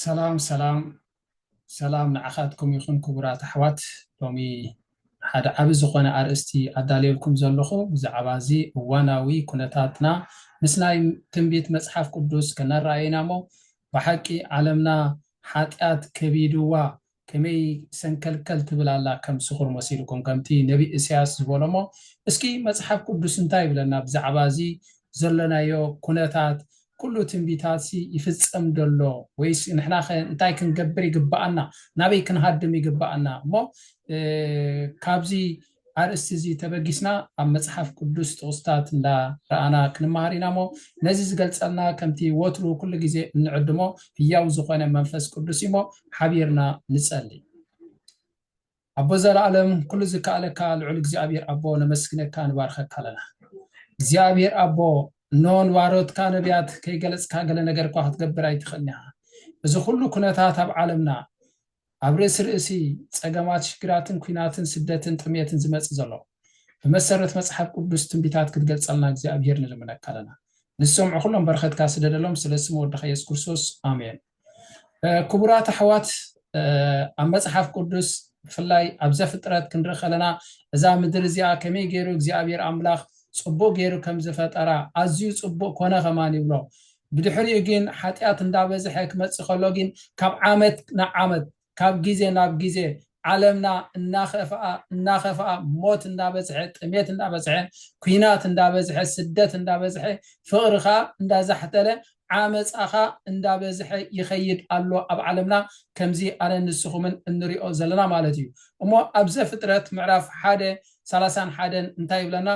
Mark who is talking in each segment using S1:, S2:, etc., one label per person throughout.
S1: ሰላም ሰላም ሰላም ንዓኻትኩም ይኹን ክቡራት ኣሕዋት ሎሚ ሓደ ዓቢ ዝኾነ ኣርእስቲ ኣዳልየልኩም ዘለኹ ብዛዕባ እዚ እዋናዊ ኩነታትና ምስ ናይ ትንቢት መጽሓፍ ቅዱስ ከነረኣየና እሞ ብሓቂ ዓለምና ሓጢኣት ከቢድዋ ከመይ ሰንከልከል ትብል ኣላ ከም ስኹር መሲልኩም ከምቲ ነቢ እሰያስ ዝበሎ እሞ እስኪ መጽሓፍ ቅዱስ እንታይ ይብለና ብዛዕባ እዚ ዘሎናዮ ኩነታት ኩሉ ትንቢታትሲ ይፍጸም ዶ ኣሎ ወይስ ንሕናኸ እንታይ ክንገብር ይግብኣና ናበይ ክንሃድም ይግብኣና እሞ ካብዚ ኣርእስቲ እዚ ተበጊስና ኣብ መጽሓፍ ቅዱስ ጥቕስታት እንዳ ረኣና ክንመሃር ኢና እሞ ነዚ ዝገልጸልና ከምቲ ወትሩ ኩሉ ግዜ እንዕድሞ ህያው ዝኾነ መንፈስ ቅዱስ እዩ እሞ ሓቢርና ንጸሊ። ኣቦ ዘላለም ኩሉ ዝከኣለካ ልዑል እግዚኣብሔር ኣቦ ነመስግነካ ንባርኸካ ኣለና። እግዚኣብሔር ኣቦ እነሆ ንባሮትካ ነቢያት ከይገለጽካ ገለ ነገር እኳ ክትገብር ኣይትኽእልን ኢኻ። እዚ ኩሉ ኩነታት ኣብ ዓለምና ኣብ ርእሲ ርእሲ ጸገማት ሽግራትን ኩናትን ስደትን ጥምየትን ዝመጽእ ዘሎ ብመሰረት መጽሓፍ ቅዱስ ትንቢታት ክትገልጸልና እግዚኣብሄር ንልምነካ ኣለና ንዝሰምዑ ኩሎም በረኸትካ ስደደሎም ስለ ስም ወድኻ የሱስ ክርስቶስ ኣሜን ክቡራት ኣሕዋት ኣብ መጽሓፍ ቅዱስ ብፍላይ ኣብ ዘፍጥረት ክንርኢ ከለና እዛ ምድሪ እዚኣ ከመይ ገይሩ እግዚኣብሄር ኣምላኽ ጽቡቅ ገይሩ ከም ዝፈጠራ ኣዝዩ ጽቡቅ ኮነ ከማን ይብሎ ብድሕሪኡ ጊን ሓጢኣት እንዳበዝሐ ክመጽእ ከሎ ጊን ካብ ዓመት ናብ ዓመት ካብ ጊዜ ናብ ጊዜ ዓለምና እናኸፍኣ እናኸፍኣ ሞት እንዳበዝሐ ጥሜት እንዳበዝሐ ኩናት እንዳበዝሐ ስደት እንዳበዝሐ ፍቕሪ ከኣ እንዳዛሕተለ ዓመጻ ከኣ እንዳበዝሐ ይኸይድ ኣሎ ኣብ ዓለምና ከምዚ ኣነን ንስኹምን እንሪኦ ዘለና ማለት እዩ እሞ ኣብ ዘፍጥረት ምዕራፍ ሓደ ሰላሳን ሓደን እንታይ ይብለና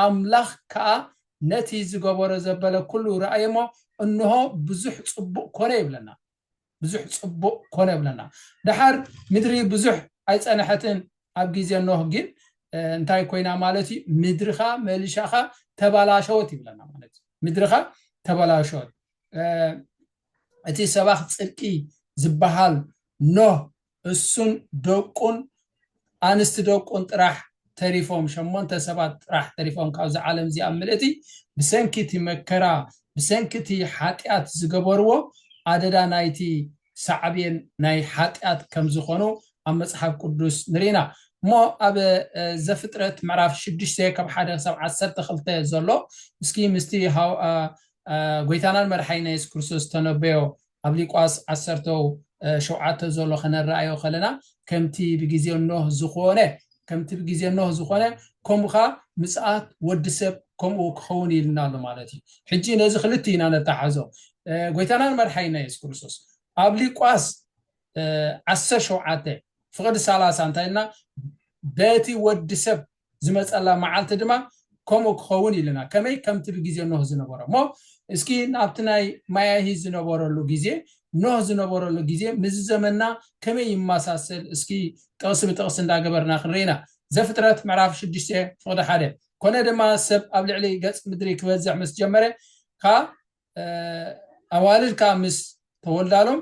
S1: ኣምላኽ ከኣ ነቲ ዝገበሮ ዘበለ ኩሉ ረኣየ እሞ እንሆ ብዙሕ ጽቡቕ ኮነ ይብለና ብዙሕ ጽቡቕ ኮነ ይብለና ደሓር ምድሪ ብዙሕ ኣይጸነሐትን ኣብ ግዜ ኖህ ግን እንታይ ኮይና ማለት እዩ ምድርኻ መልሻኻ ተበላሸወት ይብለና ማለት እዩ ምድርኻ ተበላሸወት እቲ ሰባኽ ጽድቂ ዝበሃል ኖህ እሱን ደቁን ኣንስቲ ደቁን ጥራሕ ተሪፎም ሸሞንተ ሰባት ጥራሕ ተሪፎም ካብዛ ዓለም እዚኣ ምልእቲ ብሰንኪ እቲ መከራ ብሰንኪ እቲ ሓጥያት ዝገበርዎ ኣደዳ ናይቲ ሳዕቤን ናይ ሓጥያት ከምዝኾኑ ኣብ መፅሓፍ ቅዱስ ንርኢ ኢና እሞ ኣብ ዘፍጥረት ምዕራፍ ሽዱሽተ ካብ ሓደ ክሳብ ዓሰርተ ክልተ ዘሎ እስኪ ምስቲ ጎይታናን መድሓኒና የሱስ ክርስቶስ ዝተነበዮ ኣብ ሊቋስ ዓሰርተው ሸውዓተ ዞሎ ከነረኣዮ ከለና ከምቲ ብጊዜ ኖህ ዝኾነ ከምቲ ብጊዜ ኖህ ዝኾነ ከምኡ ኸኣ ምጽኣት ወዲ ሰብ ከምኡ ክኸውን ኢልና ኣሎ ማለት እዩ። ሕጂ ነዚ ክልቲ ኢና ነተሓዞ ጎይታናን መድሓይና የሱስ ክርስቶስ ኣብ ሊቋስ ዓሰርተ ሸውዓተ ፍቕዲ ሰላሳ እንታይ ኢልና በቲ ወዲ ሰብ ዝመጸላ መዓልቲ ድማ ከምኡ ክኸውን ኢልና ከመይ ከምቲ ብግዜ ኖህ ዝነበሮ እሞ እስኪ ናብቲ ናይ ማያሂ ዝነበረሉ ግዜ ኖህ ዝነበረሉ ግዜ ምዚ ዘመንና ከመይ ይመሳሰል እስኪ ጥቕሲ ብጥቕሲ እንዳገበርና ክንርኢ ኢና ዘፍጥረት ምዕራፍ ሽዱሽተ ፍቕዲ ሓደ ኮነ ድማ ሰብ ኣብ ልዕሊ ገጽ ምድሪ ክበዝሕ ምስ ጀመረ ከኣ ኣዋልድ ከኣ ምስ ተወልዳሎም፣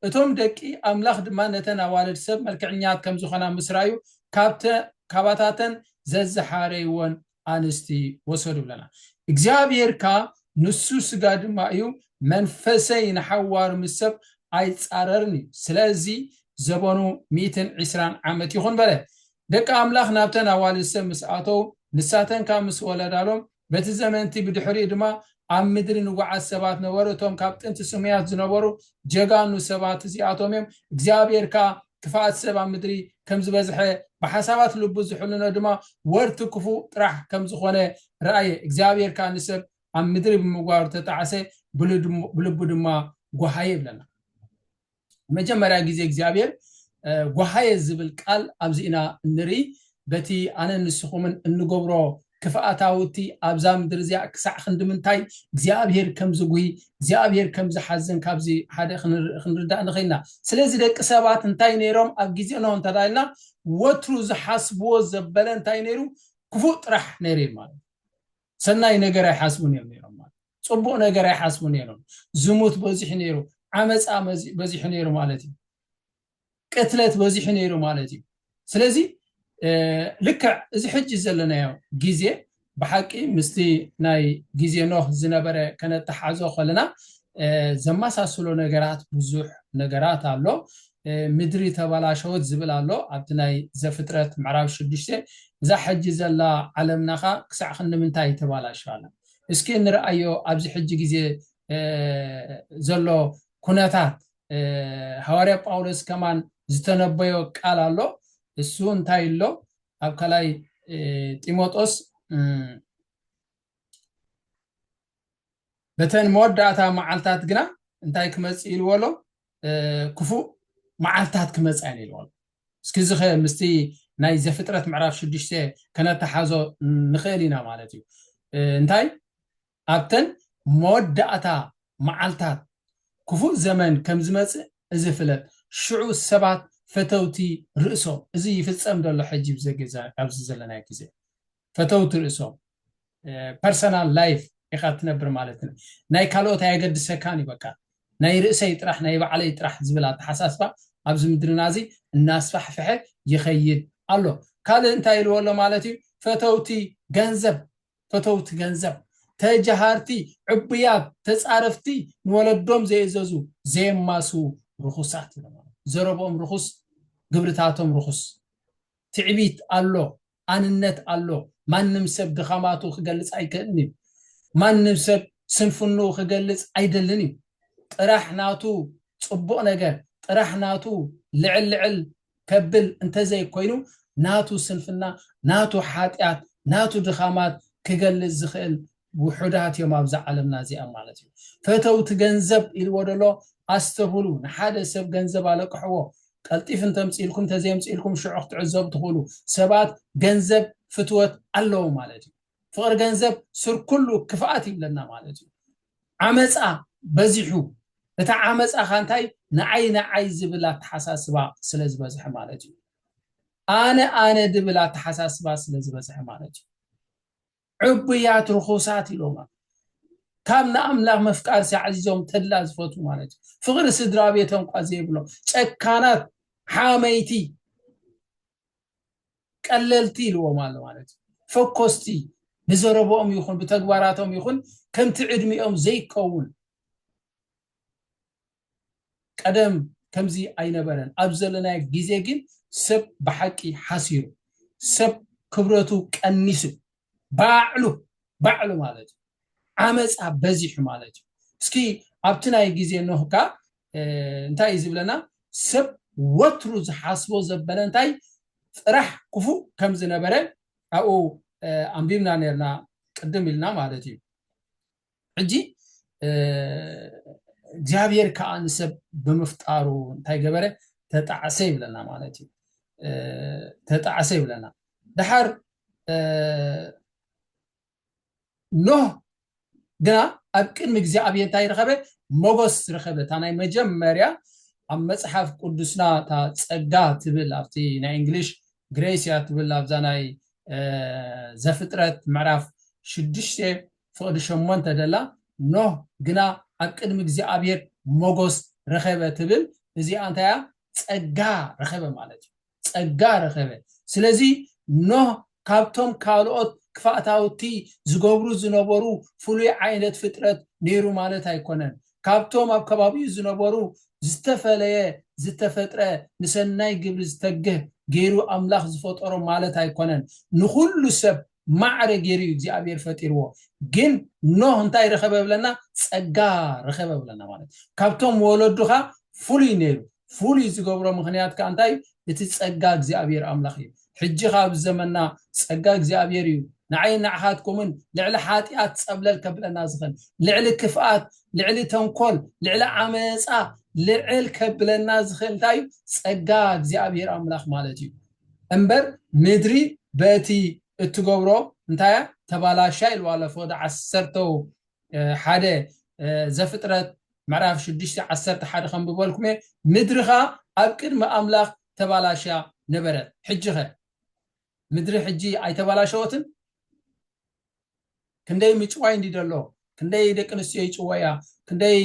S1: እቶም ደቂ ኣምላኽ ድማ ነተን ኣዋልድ ሰብ መልክዕኛት ከም ዝዀና ምስ ረኣዩ፣ ካባታተን ዘዝሓረይወን ኣንስቲ ወሰዱ ይብለና። እግዚኣብሄር ከኣ ንሱ ስጋ ድማ እዩ፣ መንፈሰይ ንሓዋሩ ምስ ሰብ ኣይጻረርን እዩ፣ ስለዚ ዘበኑ ሚእትን ዕስራን ዓመት ይኹን በለ። ደቂ ኣምላኽ ናብተን ኣዋልድ ሰብ ምስ ኣተዉ፣ ንሳተን ከኣ ምስ ወለዳሎም፣ በቲ ዘመን'ቲ ብድሕሪኡ ድማ ኣብ ምድሪ ንጉዓዝ ሰባት ነበሩ፣ እቶም ካብ ጥንቲ ስሙያት ዝነበሩ ጀጋኑ ሰባት እዚኣቶም እዮም፣ እግዚኣብሄር ከኣ ክፍኣት ሰብ ኣብ ምድሪ ከም ዝበዝሐ ብሓሳባት ልቡ ዝሕልኖ ድማ ወርቱ ክፉእ ጥራሕ ከም ዝኾነ ረኣየ፣ እግዚኣብሄር ከኣ ንሰብ ኣብ ምድሪ ብምግባሩ ተጣዕሰ፣ ብልቡ ድማ ጓሃየ ይብለና። መጀመርያ ግዜ እግዚኣብሔር ጓሃየ ዝብል ቃል ኣብዚ ኢና እንርኢ በቲ ኣነን ንስኹምን እንገብሮ ክፍኣታውቲ ኣብዛ ምድሪ እዚኣ ክሳዕ ክንድምንታይ እግዚኣብሔር ከም ዝጉሂ እግዚኣብሔር ከም ዝሓዝን ካብዚ ሓደ ክንርዳእ ንኽኢልና ስለዚ ደቂ ሰባት እንታይ ነይሮም ኣብ ግዜ ኖህ እንተዳልና ወትሩ ዝሓስብዎ ዘበለ እንታይ ነይሩ ክፉእ ጥራሕ ነይሩ ማለት ሰናይ ነገር ኣይሓስቡን እዮም ነይሮም ማለት ጽቡቅ ነገር ኣይሓስቡ ነይሮም ዝሙት በዚሑ ነይሩ ዓመጻ በዚሑ ነይሩ ማለት እዩ ቅትለት በዚሑ ነይሩ ማለት እዩ ስለዚ ልክዕ እዚ ሕጂ ዘለናዮ ግዜ ብሓቂ ምስቲ ናይ ግዜ ኖህ ዝነበረ ከነተሓዞ ከለና ዘመሳስሎ ነገራት ብዙሕ ነገራት ኣሎ ምድሪ ተበላሸወት ዝብል ኣሎ ኣብቲ ናይ ዘፍጥረት ምዕራብ ሽዱሽተ እዛ ሕጂ ዘላ ዓለምናኻ ክሳዕ ክንምንታይ ተባላሸዋላ እስኪ እንርኣዮ ኣብዚ ሕጂ ግዜ ዘሎ ኩነታት ሃዋርያ ጳውሎስ ከማን ዝተነበዮ ቃል ኣሎ እሱ እንታይ ኣሎ ኣብ ካልኣይ ጢሞጦስ በተን መወዳእታ መዓልታት ግና እንታይ ክመጽእ ኢልዎ ኣሎ ክፉእ መዓልትታት ክመጻ እየን ኢልዎ ኣሎ። እስኪ እዚ ከ ምስቲ ናይ ዘፍጥረት ምዕራፍ ሽዱሽተ ከነተሓዞ ንኽእል ኢና ማለት እዩ። እንታይ ኣብተን መወዳእታ መዓልትታት ክፉእ ዘመን ከም ዝመጽእ እዚ ፍለጥ፣ ሽዑ ሰባት ፈተውቲ ርእሶም እዚ ይፍጸም ዶ ኣሎ ሕጂ ኣብዚ ዘለናዮ ግዜ? ፈተውቲ ርእሶም ፐርሰናል ላይፍ ኢኻ ትነብር ማለት ን ናይ ካልኦት ኣየገድሰካን እዩ በቃ ናይ ርእሰይ ጥራሕ ናይ ባዕለይ ጥራሕ ዝብል ኣተሓሳስባ ኣብዚ ምድርና እዚ እናስፋሕፍሐ ይኸይድ ኣሎ ካልእ እንታይ ኢልዎ ኣሎ ማለት እዩ ፈተውቲ ገንዘብ ፈተውቲ ገንዘብ ተጀሃርቲ ዕቡያት ተፃረፍቲ ንወለዶም ዘይእዘዙ ዘየማስዉ ርኹሳት ኢሎም ዘረብኦም ርኹስ ግብርታቶም ርኹስ ትዕቢት ኣሎ ኣንነት ኣሎ ማንም ሰብ ድኻማቱ ክገልጽ ኣይክእልን እዩ ማንም ሰብ ስንፍንኡ ክገልጽ ኣይደልን እዩ ጥራሕ ናቱ ጽቡቅ ነገር ጥራሕ ናቱ ልዕል ልዕል ከብል እንተዘይ ኮይኑ ናቱ ስንፍና ናቱ ሓጥያት ናቱ ድኻማት ክገልጽ ዝኽእል ውሑዳት እዮም ኣብዛ ዓለምና እዚኣ ማለት እዩ ፈተውቲ ገንዘብ ኢልዎ ደሎ ኣስተብህሉ ንሓደ ሰብ ገንዘብ ኣለቅሕዎ ቀልጢፍ እንተምፅኢልኩም ተዘየምፅኢልኩም ሽዑ ክትዕዘቡ ትኽእሉ ሰባት ገንዘብ ፍትወት ኣለዎ ማለት እዩ ፍቕሪ ገንዘብ ስር ኩሉ ክፍኣት ይብለና ማለት እዩ ዓመፃ በዚሑ እቲ ዓመፃ ካ እንታይ ንዓይ ንዓይ ዝብል ኣተሓሳስባ ስለ ዝበዝሐ ማለት እዩ ኣነ ኣነ ድብል ኣተሓሳስባ ስለ ዝበዝሐ ማለት እዩ ዕቡያት ርኹሳት ኢሎም ኣለው። ካብ ንኣምላኽ መፍቃርሲ ኣዕዚዞም ተድላ ዝፈትዉ ማለት እዩ። ፍቕሪ ስድራ ቤቶም እኳ ዘይብሎም ጨካናት፣ ሓመይቲ፣ ቀለልቲ ኢልዎም ኣሎ ማለት እዩ። ፈኮስቲ ብዘረብኦም ይኹን ብተግባራቶም ይኹን ከምቲ ዕድሚኦም ዘይከውን ቀደም ከምዚ ኣይነበረን ኣብ ዘለናዮ ግዜ ግን ሰብ ብሓቂ ሓሲሩ ሰብ ክብረቱ ቀኒሱ ባዕሉ ባዕሉ ማለት እዩ ዓመፃ በዚሑ ማለት እዩ እስኪ ኣብቲ ናይ ግዜ ኖህ ከ እንታይ እዩ ዝብለና ሰብ ወትሩ ዝሓስቦ ዘበለ እንታይ ጥራሕ ክፉእ ከም ዝነበረ ኣብኡ ኣንቢብና ነርና ቅድም ኢልና ማለት እዩ ሕጂ እግዚኣብሔር ከዓ ንሰብ ብምፍጣሩ እንታይ ገበረ ተጣዕሰ ይብለና ማለት እዩ ተጣዕሰ ይብለና ድሓር ኖህ ግና ኣብ ቅድሚ እግዚኣብሔር እንታይ ረኸበ ሞጎስ ረኸበ እታ ናይ መጀመርያ ኣብ መፅሓፍ ቅዱስና እታ ፀጋ ትብል ኣብቲ ናይ እንግሊሽ ግሬስያ ትብል ኣብዛ ናይ ዘፍጥረት ምዕራፍ ሽዱሽተ ፍቕዲ ሸሞንተ ደላ፣ ኖህ ግና ኣብ ቅድሚ እግዚኣብሄር ሞጎስ ረኸበ ትብል፣ እዚኣ እንታይ እያ ጸጋ ረኸበ ማለት እዩ፣ ጸጋ ረኸበ፣ ስለዚ ኖህ ካብቶም ካልኦት ክፋእታውቲ ዝገብሩ ዝነበሩ ፍሉይ ዓይነት ፍጥረት ነይሩ ማለት ኣይኮነን፣ ካብቶም ኣብ ከባቢኡ ዝነበሩ ዝተፈለየ ዝተፈጥረ ንሰናይ ግብሪ ዝተግህ ገይሩ ኣምላኽ ዝፈጠሮ ማለት ኣይኮነን፣ ንኹሉ ሰብ ማዕረ ጌሩ እዩ እግዚኣብሔር ፈጢርዎ ግን ኖህ እንታይ ረኸበ ብለና ጸጋ ረኸበ ብለና ማለት ካብቶም ወለዱ ከኣ ፍሉይ ነይሩ ፍሉይ ዝገብሮ ምክንያት ከኣ እንታይ እዩ እቲ ጸጋ እግዚኣብሔር ኣምላኽ እዩ ሕጂ ከኣ ኣብ ዘመና ጸጋ እግዚኣብሔር እዩ ንዓይን ንዓኻትኩምን ልዕሊ ሓጢኣት ጸብለል ከብለና ዝኽእል ልዕሊ ክፍኣት ልዕሊ ተንኮል ልዕሊ ዓመጻ ልዕል ከብለና ዝኽእል እንታይ እዩ ጸጋ እግዚኣብሔር ኣምላኽ ማለት እዩ እምበር ምድሪ በእቲ እትገብሮ እንታይ እያ ተባላሻ ኢልዋ ኣሎ ፍቅዲ ዓሰርተ ሓደ ዘፍጥረት ምዕራፍ ሽዱሽተ ዓሰርተ ሓደ ከንብበልኩም እየ ምድሪ ከኣ ኣብ ቅድሚ ኣምላኽ ተባላሽያ ነበረት ሕጂ ከ ምድሪ ሕጂ ኣይተባላሸወትን ክንደይ ምጭዋይ እንዲ ደሎ ክንደይ ደቂ ኣንስትዮ ይጭወያ ክንደይ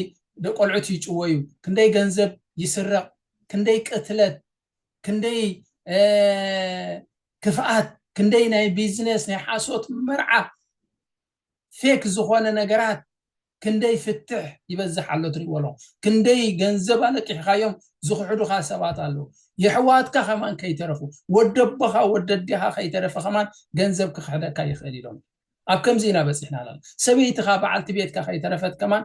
S1: ደቆልዑት ይጭወዩ ክንደይ ገንዘብ ይስረቕ ክንደይ ቅትለት ክንደይ ክፍኣት ክንደይ ናይ ቢዝነስ ናይ ሓሶት መርዓ ፌክ ዝኾነ ነገራት ክንደይ ፍትሕ ይበዝሕ ኣሎ ትሪእዎ ኣለኹ ክንደይ ገንዘብ ኣለቂሕኻዮም ዝኽሕዱኻ ሰባት ኣለዉ የሕዋትካ ከማን ከይተረፉ ወደቦኻ ወደዴኻ ከይተረፈ ከማን ገንዘብ ክኽሕደካ ይኽእል ኢሎም ኣብ ከምዚ ኢና በፂሕና ኣለና ሰበይትኻ በዓልቲ ቤትካ ከይተረፈት ከማን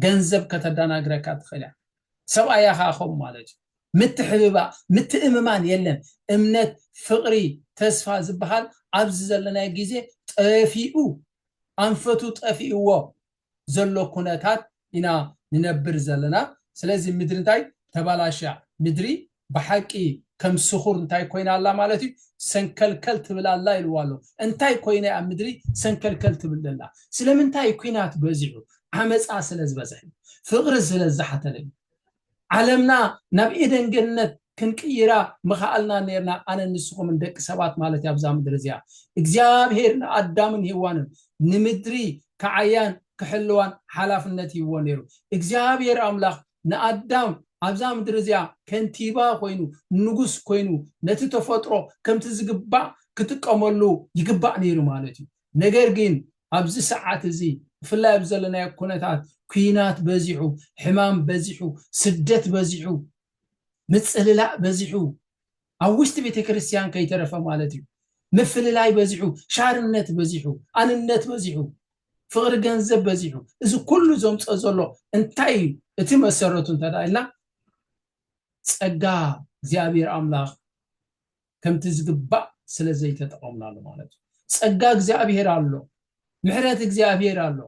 S1: ገንዘብ ከተዳናግረካ ትኽእል እያ ሰብኣያ ከኣ ከምኡ ማለት እዩ ምትሕብባር ምትእምማን የለን እምነት ፍቅሪ ተስፋ ዝብሃል ኣብዚ ዘለናዮ ግዜ ጠፊኡ ኣንፈቱ ጠፊእዎ ዘሎ ኩነታት ኢና ንነብር ዘለና ስለዚ ምድሪ እንታይ ተባላሽያ ምድሪ ብሓቂ ከም ስኹር እንታይ ኮይና ኣላ ማለት እዩ ሰንከልከል ትብል ኣላ ኢልዋ ኣሎ እንታይ ኮይነ ኣብ ምድሪ ሰንከልከል ትብል ዘላ ስለምንታይ ኩናት በዚሑ ዓመፃ ስለ ዝበዝሐ ፍቅሪ ስለ ዝሓተለ እዩ ዓለምና ናብ ኤደን ገነት ክንቅይራ ምኸኣልና ነርና ኣነ ንስኹምን ደቂ ሰባት ማለት እዩ ኣብዛ ምድሪ እዚኣ እግዚኣብሄር ንኣዳምን ሄዋንን ንምድሪ ክዓያን ክሕልዋን ሓላፍነት ይህዎ ነይሩ እግዚኣብሄር ኣምላኽ ንኣዳም ኣብዛ ምድሪ እዚኣ ከንቲባ ኰይኑ፣ ንጉስ ኰይኑ፣ ነቲ ተፈጥሮ ከምቲ ዝግባእ ክጥቀመሉ ይግባእ ነይሩ ማለት እዩ። ነገር ግን ኣብዚ ሰዓት እዚ፣ ብፍላይ ኣብዚ ዘለናዮ ኵነታት፣ ኲናት በዚሑ፣ ሕማም በዚሑ፣ ስደት በዚሑ፣ ምጽልላእ በዚሑ፣ ኣብ ውሽጢ ቤተክርስትያን ከይተረፈ ማለት እዩ ምፍልላይ በዚሑ፣ ሻርነት በዚሑ፣ ኣንነት በዚሑ፣ ፍቕሪ ገንዘብ በዚሑ፣ እዚ ኩሉ ዘምፅኦ ዘሎ እንታይ እዩ እቲ መሰረቱ እንተድኣ ኢልና ፀጋ እግዚኣብሔር ኣምላኽ ከምቲ ዝግባእ ስለዘይተጠቐምናሉ ማለት እዩ። ፀጋ እግዚኣብሔር ኣሎ፣ ምሕረት እግዚኣብሔር ኣሎ፣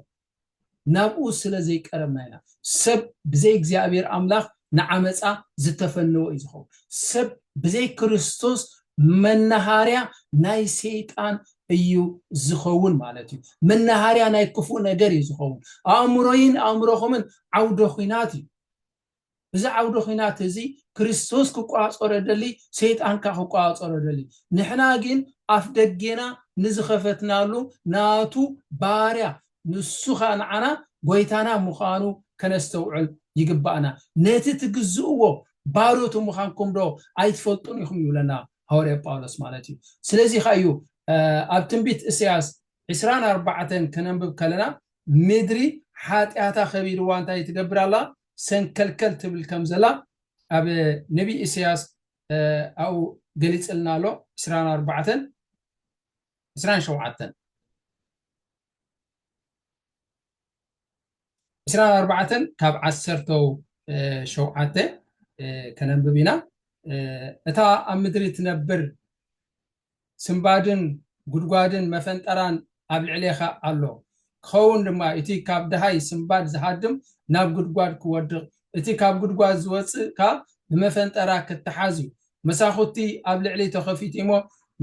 S1: ናብኡ ስለ ዘይቀረብና ኢና። ሰብ ብዘይ እግዚኣብሔር ኣምላኽ ንዓመጻ ዝተፈነወ እዩ ዝኸውን። ሰብ ብዘይ ክርስቶስ መናሃርያ ናይ ሰይጣን እዩ ዝኸውን ማለት እዩ። መናሃርያ ናይ ክፉእ ነገር እዩ ዝኸውን። ኣእምሮይን ኣእምሮኹምን ዓውደ ኹናት እዩ። እዚ ዓውደ ኹናት እዚ ክርስቶስ ክቋጸሮ ደሊ ሰይጣን ከኣ ክቋጸሮ ደሊ ንሕና ግን ኣፍ ደጌና ንዝኸፈትናሉ ናቱ ባርያ ንሱ ከኣ ንዓና ጎይታና ምዃኑ ከነስተውዕል ይግባእና ነቲ ትግዝእዎ ባሮቱ ምዃንኩም ዶ ኣይትፈልጡን ኢኹም ይብለና ሃዋርያ ጳውሎስ ማለት እዩ ስለዚ ከኣ እዩ ኣብ ትንቢት እሰያስ ዕስራን ኣርባዕተን ከነንብብ ከለና ምድሪ ሓጢኣታ ከቢድዋ እንታይ ትገብር ኣላ ሰንከልከል ትብል ከም ዘላ ኣብ ነቢይ ኢሰያስ ኣብኡ ገሊጽልና ኣሎ ዕስራን ኣርባዕተን ዕስራን ሸውዓተን ዕስራን ኣርባዕተን ካብ ዓሰርተው ሸውዓተ ከነንብብ ኢና እታ ኣብ ምድሪ ትነብር ስንባድን ጉድጓድን መፈንጠራን ኣብ ልዕሌኻ ኣሎ። ክኸውን ድማ እቲ ካብ ደሃይ ስንባድ ዝሃድም ናብ ጉድጓድ ክወድቕ፣ እቲ ካብ ጉድጓድ ዝወጽእ ከኣ ብመፈንጠራ ክተሓዝ እዩ። መሳኹቲ ኣብ ልዕሊ ተኸፊቲሞ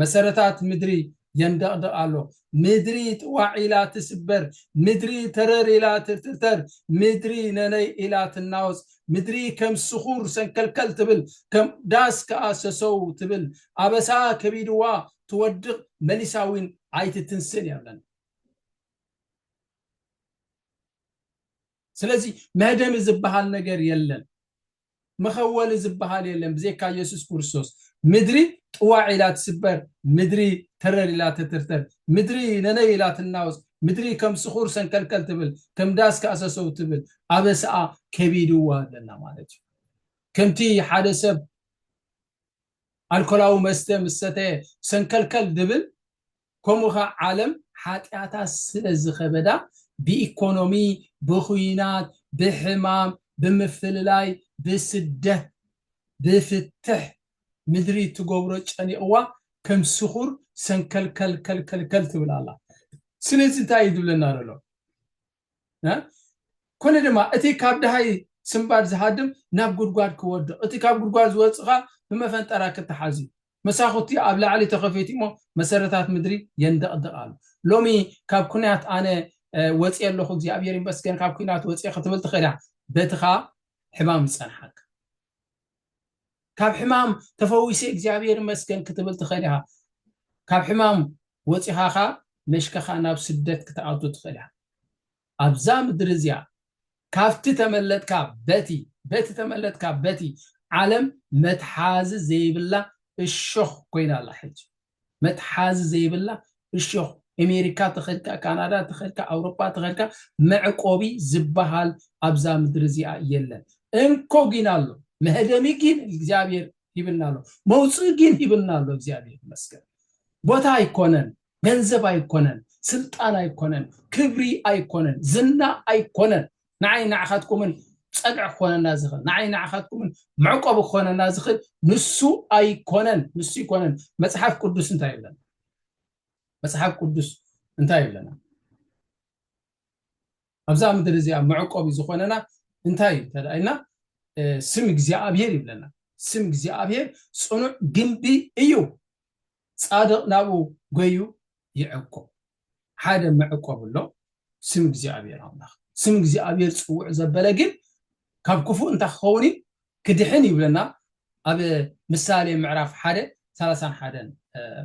S1: መሰረታት ምድሪ የንደቕድቕ ኣሎ። ምድሪ ጥዋዕ ኢላ ትስበር፣ ምድሪ ተረር ኢላ ትርትርተር፣ ምድሪ ነነይ ኢላ ትናወጽ፣ ምድሪ ከም ስኹር ሰንከልከል ትብል፣ ከም ዳስ ከኣ ሰሰው ትብል፣ ኣበሳ ከቢድዋ ትወድቕ፣ መሊሳ እውን ኣይትትንስእን እያ ብለን። ስለዚ መህደሚ ዝበሃል ነገር የለን። መኸወሊ ዝብሃል የለን ብዘይካ የሱስ ክርስቶስ ምድሪ ጥዋዕ ኢላ ትስበር ምድሪ ተረር ኢላ ተትርተር ምድሪ ነነይ ኢላ ትናወጽ ምድሪ ከም ስኹር ሰንከልከል ትብል ከም ዳስ ካእሰሰው ትብል ኣበስኣ ከቢድዋ ኣለና ማለት እዩ ከምቲ ሓደ ሰብ ኣልኮላዊ መስተ ምስ ሰተየ ሰንከልከል ዝብል ከምኡ ከኣ ዓለም ሓጢኣታ ስለ ዝኸበዳ ብኢኮኖሚ ብኹናት ብሕማም ብምፍልላይ ብስደት ብፍትሕ ምድሪ ትገብሮ ጨኒቕዋ ከም ስኹር ሰንከልከልከልከልከል ትብል ኣላ ስለዚ እንታይ እዩ ዝብለና ዘሎ ኩኒ ድማ እቲ ካብ ደሃይ ስንባድ ዝሃድም ናብ ጉድጓድ ክወድቕ እቲ ካብ ጉድጓድ ዝወጽእ ከኣ ብመፈንጠራ ክተሓዝ እዩ። መሳኹቲ ኣብ ላዕሊ ተኸፊቱ እሞ መሰረታት ምድሪ የንደቕድቕ ኣሎ። ሎሚ ካብ ኩናት ኣነ ወጽየ ኣለኹ እግዚኣብሔር ይመስገን ካብ ኩናት ወጽየ ክትብል ትኽእል ኢኻ በትኻ ሕማም ዝጸንሓካ። ካብ ሕማም ተፈዊሰ እግዚኣብሔር ይመስገን ክትብል ትኽእል ኢኻ ካብ ሕማም ወፂኻ ኸዓ መሽከኻ ናብ ስደት ክትኣቱ ትኽእል ኢኻ ኣብዛ ምድሪ እዚኣ ካብቲ ተመለጥካ በቲ በቲ ተመለጥካ በቲ ዓለም መትሓዚ ዘይብላ እሾኽ ኮይና ኣላ ሕጂ መትሓዚ ዘይብላ እሾኽ ኤሜሪካ ተኸድካ ካናዳ ተኸድካ ኣውሮጳ ተኸድካ መዕቆቢ ዝባሃል ኣብዛ ምድሪ እዚኣ የለን እንኮ ጊን ኣሎ መህደሚ ጊን እግዚኣብሔር ሂብና ኣሎ መውጽኢ ጊን ሂብና ኣሎ እግዚኣብሔር ይመስገን ቦታ ኣይኮነን ገንዘብ ኣይኮነን ስልጣን ኣይኮነን ክብሪ ኣይኮነን ዝና ኣይኮነን ንዓይን ንዓኻትኩምን ጸግዒ ክኾነና ዝኽእል፣ ንዓይን ንዓኻትኩምን መዕቆቢ ክኾነና ዝኽእል ንሱ ኣይኮነን፣ ንሱ ኣይኮነን። መጽሓፍ ቅዱስ እንታይ ይብለና? መጽሓፍ ቅዱስ እንታይ ይብለና? ኣብዛ ምድሪ እዚኣ መዕቆቢ ዝኾነና እንታይ እዩ ተደኣይና? ስም እግዚኣብሔር ይብለና። ስም እግዚኣብሔር ጽኑዕ ግንቢ እዩ። ጻድቕ ናብኡ ጐይዩ ይዕቍብ። ሓደ መዕቈቢ ኣሎ፣ ስም እግዚኣብሄር ኣምላኽ። ስም እግዚኣብሄር ጽውዕ ዘበለ ግን ካብ ክፉእ እንታይ ክኸውን እዩ? ክድሕን እዩ ይብለና ኣብ ምሳሌ ምዕራፍ ሓደ ሰላሳን ሓደን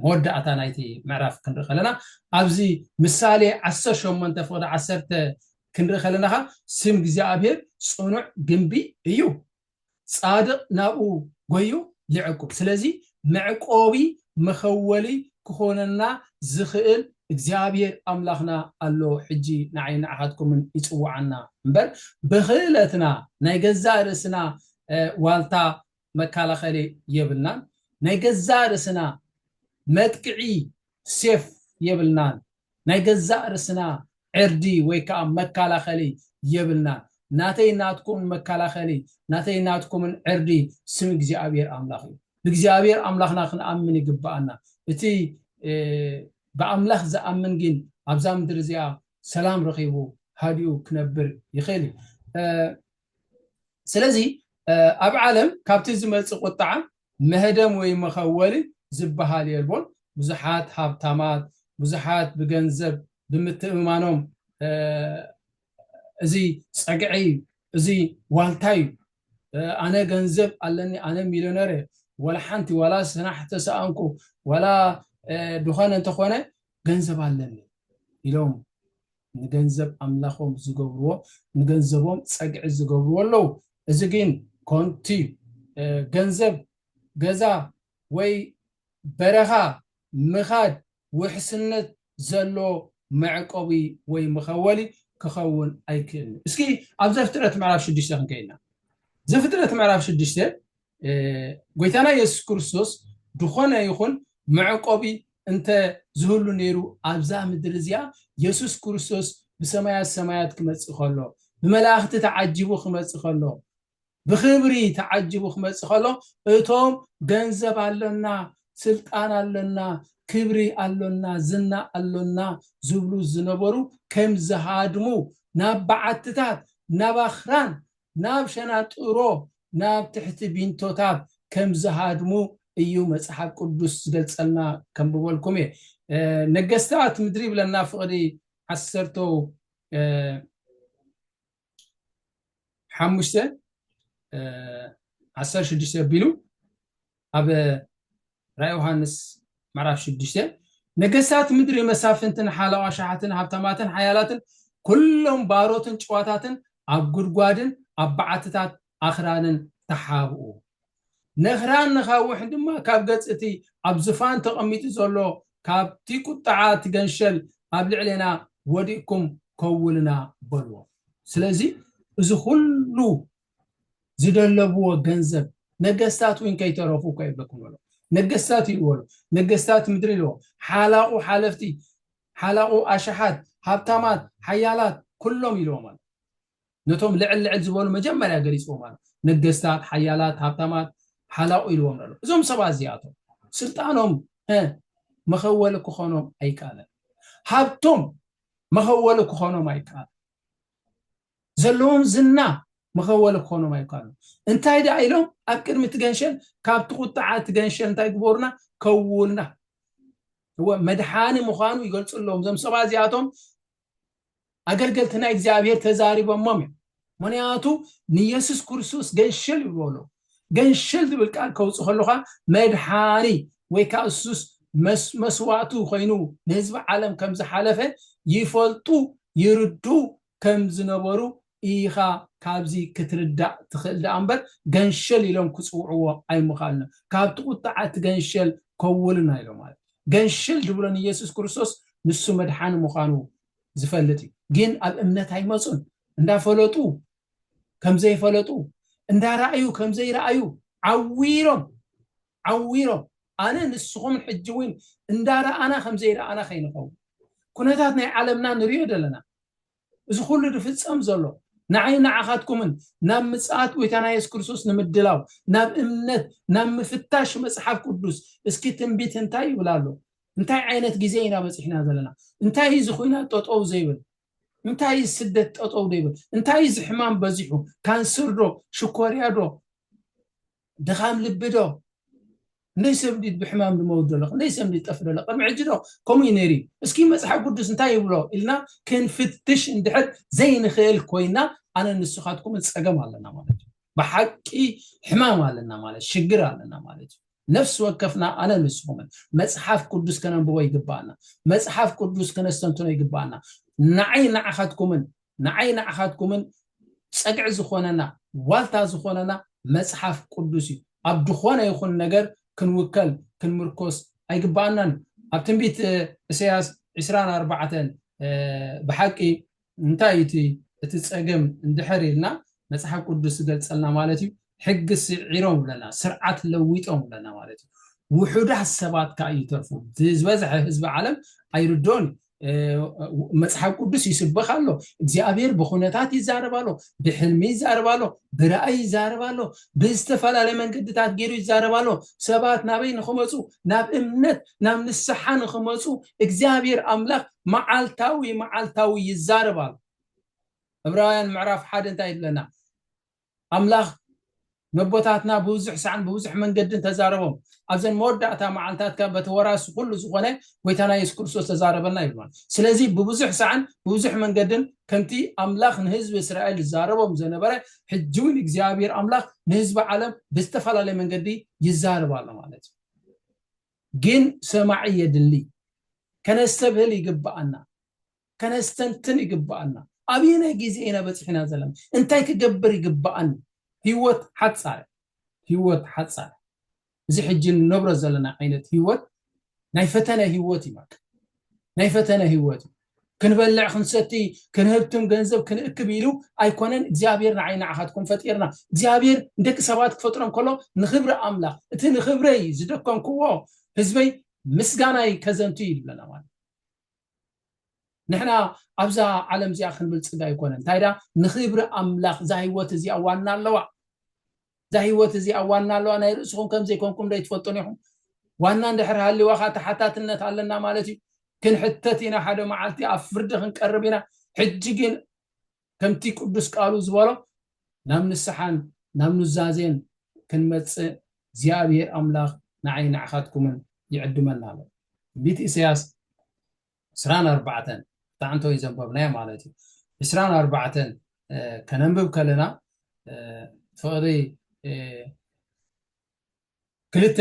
S1: መወዳእታ ናይቲ ምዕራፍ ክንርኢ ከለና ኣብዚ ምሳሌ ዓሰርተ ሸሞንተ ፍቕዲ ዓሰርተ ክንርኢ ከለና ኸኣ ስም እግዚኣብሄር ጽኑዕ ግምቢ እዩ ጻድቕ ናብኡ ጎዩ ይዕቁብ። ስለዚ መዕቆቢ፣ መኸወሊ፣ ክኾነና ዝኽእል እግዚኣብሄር ኣምላኽና ኣሎ ሕጂ ንዓይን ንዓኻትኩምን ይጽውዓና እምበር ብኽእለትና ናይ ገዛእ ርእስና ዋልታ መካላኸሊ የብልናን ናይ ገዛእ ርእስና መጥቅዒ ሴፍ የብልናን ናይ ገዛእ ርስና ዕርዲ ወይ ከኣ መካላኸሊ የብልናን። ናተይ ናትኩምን መካላኸሊ ናተይ ናትኩምን ዕርዲ ስም እግዚኣብሔር ኣምላኽ እዩ። ብእግዚኣብሔር ኣምላኽና ክንኣምን ይግብኣና። እቲ ብኣምላኽ ዝኣምን ግን ኣብዛ ምድሪ እዚኣ ሰላም ረኺቡ ሃዲኡ ክነብር ይኽእል እዩ። ስለዚ ኣብ ዓለም ካብቲ ዝመጽእ ቁጥዓ መህደም ወይ መኸወሊ ዝበሃል የልቦን። ብዙሓት ሃብታማት፣ ብዙሓት ብገንዘብ ብምትእምማኖም እዚ ጸግዒ እዩ፣ እዚ ዋልታ እዩ፣ ኣነ ገንዘብ ኣለኒ፣ ኣነ ሚልዮነር እየ፣ ዋላ ሓንቲ ዋላ ስራሕ ተሰኣንኩ፣ ዋላ ዝኾነ እንተኾነ ገንዘብ ኣለኒ ኢሎም ንገንዘብ ኣምላኾም ዝገብርዎ ንገንዘቦም ጸግዒ ዝገብርዎ ኣለዉ እዚ ግን ኮንቲ እዩ ገንዘብ ገዛ ወይ በረኻ ምኻድ ውሕስነት ዘሎ መዕቆቢ ወይ መኸወሊ ክኸውን ኣይክእልን እዩ እስኪ ኣብ ዘፍጥረት ምዕራፍ ሽዱሽተ ክንከይድ ኢና ዘፍጥረት ምዕራፍ ሽዱሽተ ጎይታና የሱስ ክርስቶስ ድኾነ ይኹን መዕቆቢ እንተ ዝህሉ ነይሩ ኣብዛ ምድሪ እዚኣ የሱስ ክርስቶስ ብሰማያት ሰማያት ክመጽእ ከሎ ብመላእኽቲ ተዓጂቡ ክመጽእ ከሎ ብኽብሪ ተዓጂቡ ክመጽእ ከሎ እቶም ገንዘብ ኣሎና ስልጣን ኣሎና ክብሪ ኣሎና ዝና ኣሎና ዝብሉ ዝነበሩ ከም ዝሃድሙ ናብ በዓትታት ናብ ኣኽራን ናብ ሸናጥሮ ናብ ትሕቲ ቢንቶታት ከም ዝሃድሙ እዩ መጽሓፍ ቅዱስ ዝገልጸልና ከንብበልኩም እየ ነገስታት ምድሪ ይብለና ፍቕዲ ዓሰርተ ሓሙሽተ ዓሰርተ ሽዱሽተ ኣቢሉ ኣብ ራእይ ዮሃንስ ምዕራፍ ሽዱሽተ ነገስታት ምድሪ መሳፍንትን ሓለዋ ኣሽሓትን ሃብታማትን ሓያላትን ኩሎም ባሮትን ጭዋታትን ኣብ ጉድጓድን ኣብ በዓትታት ኣኽራንን ተሓብኡ፣ ነኽራን ነኻውሕን ድማ ካብ ገጽ እቲ ኣብ ዝፋን ተቐሚጡ ዘሎ ካብቲ ቁጥዓ ትገንሸል ኣብ ልዕሌና ወዲቕኩም ከውሉና በልዎም። ስለዚ እዚ ኹሉ ዝደለብዎ ገንዘብ ነገስታት እውን ከይተረፉ እኳ ይብለኩም ኣሎ ነገስታት ይልዎ ኣሎ ነገስታት ምድሪ ይልዎ ሓላቑ ሓለፍቲ ሓላቑ ኣሽሓት ሃብታማት ሓያላት ኩሎም ይልዎም ኣሎ ነቶም ልዕል ልዕል ዝበሉ መጀመርያ ገሊፅዎም ኣሎ ነገስታት ሓያላት ሃብታማት ሓላቑ ኢልዎም ኣሎ እዞም ሰባት እዚኣቶም ስልጣኖም መኸወሊ ክኾኖም ኣይከኣለን ሃብቶም መኸወሊ ክኾኖም ኣይከኣለን ዘለዎም ዝና መኸወሊ ክኾኖም ኣይከኣሉን። እንታይ ደኣ ኢሎም ኣብ ቅድሚ እቲ ገንሸል ካብቲ ቁጥዓ እቲ ገንሸል እንታይ ግበሩና ከውውልና እወ መድሓኒ ምዃኑ ይገልጽሎም እዞም ሰባት እዚኣቶም ኣገልገልቲ ናይ እግዚኣብሔር ተዛሪቦሞም እዮም ምክንያቱ ንየሱስ ክርስቶስ ገንሸል ይብልዎ ገንሸል ዝብል ቃል ከውፅእ ከለካ መድሓኒ ወይ ከዓ እሱስ መስዋእቱ ኮይኑ ንህዝቢ ዓለም ከም ዝሓለፈ ይፈልጡ ይርዱ ከም ዝነበሩ ኢኻ ካብዚ ክትርዳእ ትኽእል ደኣ እምበር ገንሸል ኢሎም ክጽውዕዎ ኣይምኻልነ ካብቲ ቁጥዓ እቲ ገንሸል ከውልና ኢሎም ማለት ገንሸል ድብሎ ንየሱስ ክርስቶስ ንሱ መድሓኒ ምዃኑ ዝፈልጥ እዩ ግን ኣብ እምነት ኣይመጹን እንዳ ፈለጡ ከም ዘይፈለጡ እንዳ ራኣዩ ከም ዘይራኣዩ ዓዊሮም ዓዊሮም ኣነ ንስኹም ሕጂ እውን እንዳ ራኣና ከም ዘይራኣና ከይንኸውን ኩነታት ናይ ዓለምና ንሪኦ ደለና እዚ ኩሉ ዝፍጸም ዘሎ ንዓይን ንዓኻትኩምን ናብ ምጽኣት ጎይታና የሱስ ክርስቶስ ንምድላው፣ ናብ እምነት፣ ናብ ምፍታሽ መጽሓፍ ቅዱስ፣ እስኪ ትንቢት እንታይ ይብል ኣሎ? እንታይ ዓይነት ግዜ ኢና በጺሕና ዘለና? እንታይ እዩ እዚ ኩናት ጠጠው ዘይብል? እንታይ እዩ እዚ ስደት ጠጠው ዘይብል? እንታይ እዩ እዚ ሕማም በዚሑ? ካንሰር ዶ? ሽኮርያ ዶ? ድኻም ልቢ ዶ ክንደይ ሰብ እንዲዩ ብሕማም ድመውት ዘሎ ክንደይ ሰብ እንዲዩ ዝጠፍ ዘሎ ቅድሚ ሕጂ ዶ ከምኡ እዩ ነይሩ እዩ እስኪ መጽሓፍ ቅዱስ እንታይ ይብሎ ኢልና ክንፍትሽ እንድሕር ዘይንኽእል ኮይና ኣነ ንስኻትኩምን ጸገም ኣለና ማለት እዩ ብሓቂ ሕማም ኣለና ማለት ሽግር ኣለና ማለት እዩ ነፍሲ ወከፍና ኣነ ንስኹምን መጽሓፍ ቅዱስ ከነንብቦ ይግባኣና መጽሓፍ ቅዱስ ከነስተንትኖ ይግባኣና ንዓይ ንዓኻትኩምን ንዓይ ንዓኻትኩምን ጸግዒ ዝኾነና ዋልታ ዝኾነና መጽሓፍ ቁዱስ እዩ ኣብ ድኾነ ይኹን ነገር ክንውከል ክንምርኮስ ኣይግባኣናን እዩ ኣብ ትንቢት እሰያስ ዕስራን ኣርባዕተን ብሓቂ እንታይ እዩ እቲ እቲ ጸገም እንድሕር ኢልና መጽሓፍ ቁዱስ ዝገልጸልና ማለት እዩ ሕጊ ስዒሮም ብለና ስርዓት ለዊጦም ብለና ማለት እዩ ውሑዳት ሰባት ከዓ ይተርፉ ዝበዝሐ ህዝቢ ዓለም ኣይርድኦን እዩ መፅሓፍ ቅዱስ ይስበኽ ኣሎ እግዚኣብሔር ብኩነታት ይዛረብ ኣሎ ብሕልሚ ይዛረብ ኣሎ ብራእይ ይዛረብ ኣሎ ብዝተፈላለየ መንገድታት ገይሩ ይዛረብ ኣሎ ሰባት ናበይ ንክመፁ ናብ እምነት ናብ ንስሓ ንክመፁ እግዚኣብሔር ኣምላኽ መዓልታዊ መዓልታዊ ይዛረብ ኣሎ ዕብራውያን ምዕራፍ ሓደ እንታይ ይብለና ኣምላኽ ነቦታትና ብብዙሕ ሳዕን ብብዙሕ መንገድን ተዛረቦም፣ ኣብዘን መወዳእታ መዓልታት ከኣ በቲ ወራሲ ኩሉ ዝኾነ ጎይታና የሱስ ክርስቶስ ተዛረበና ይብሉ። ስለዚ ብብዙሕ ሳዕን ብብዙሕ መንገድን ከምቲ ኣምላኽ ንህዝቢ እስራኤል ዝዛረቦም ዘነበረ ሕጂ ውን እግዚኣብሄር ኣምላኽ ንህዝቢ ዓለም ብዝተፈላለየ መንገዲ ይዛረብ ኣሎ ማለት እዩ። ግን ሰማዒ የድሊ፣ ከነስተብህል ይግብኣና። ከነስተንትን ይግበኣና። ኣበየናይ ግዜ ኢና በጺሕና ዘለና? እንታይ ክገብር ይግበኣኒ? ህይወት ሓጻር እያ። ህይወት ሓጻር እያ። እዚ ሕጂ እንነብሮ ዘለና ዓይነት ህይወት ናይ ፈተነ ህይወት እዩ በቃ። ናይ ፈተነ ህይወት እዩ። ክንበልዕ ክንሰቲ ክንህብትም ገንዘብ ክንእክብ ኢሉ ኣይኮነን እግዚኣብሔር ንዓይ ንዓኻትኩም ፈጢርና እግዚኣብሔር ንደቂ ሰባት ክፈጥሮም ከሎ ንክብሪ ኣምላኽ እቲ ንክብረይ ዝደከምክዎ ህዝበይ ምስጋናይ ከዘንቱ ይብለና ማለት ንሕና ኣብዛ ዓለም እዚኣ ክንብልፅግ ኣይኮነን እንታይ ዳ ንክብሪ ኣምላኽ እዛ ህይወት እዚኣ ዋና ኣለዋ እዛ ህይወት እዚኣ ዋና ኣለዋ ናይ ርእስኹም ከም ዘይኮንኩም ዶ ይትፈልጡን ኢኹም ዋና እንድሕር ሃሊዋ ከዓ ተሓታትነት ኣለና ማለት እዩ ክንሕተት ኢና ሓደ መዓልቲ ኣብ ፍርዲ ክንቀርብ ኢና ሕጂ ግን ከምቲ ቅዱስ ቃሉ ዝበሎ ናብ ንስሓን ናብ ኑዛዜን ክንመጽእ እግዚኣብሄር ኣምላኽ ንዓይን ንዓኻትኩምን ይዕድመና ኣሎ። ትንቢት ኢሳያስ ዕስራን ኣርባዕተን እታ ዕንቶ ዘንበብናያ ማለት እዩ ዕስራን ኣርባዕተን ከነንብብ ከለና ፍቕሪ ክልተ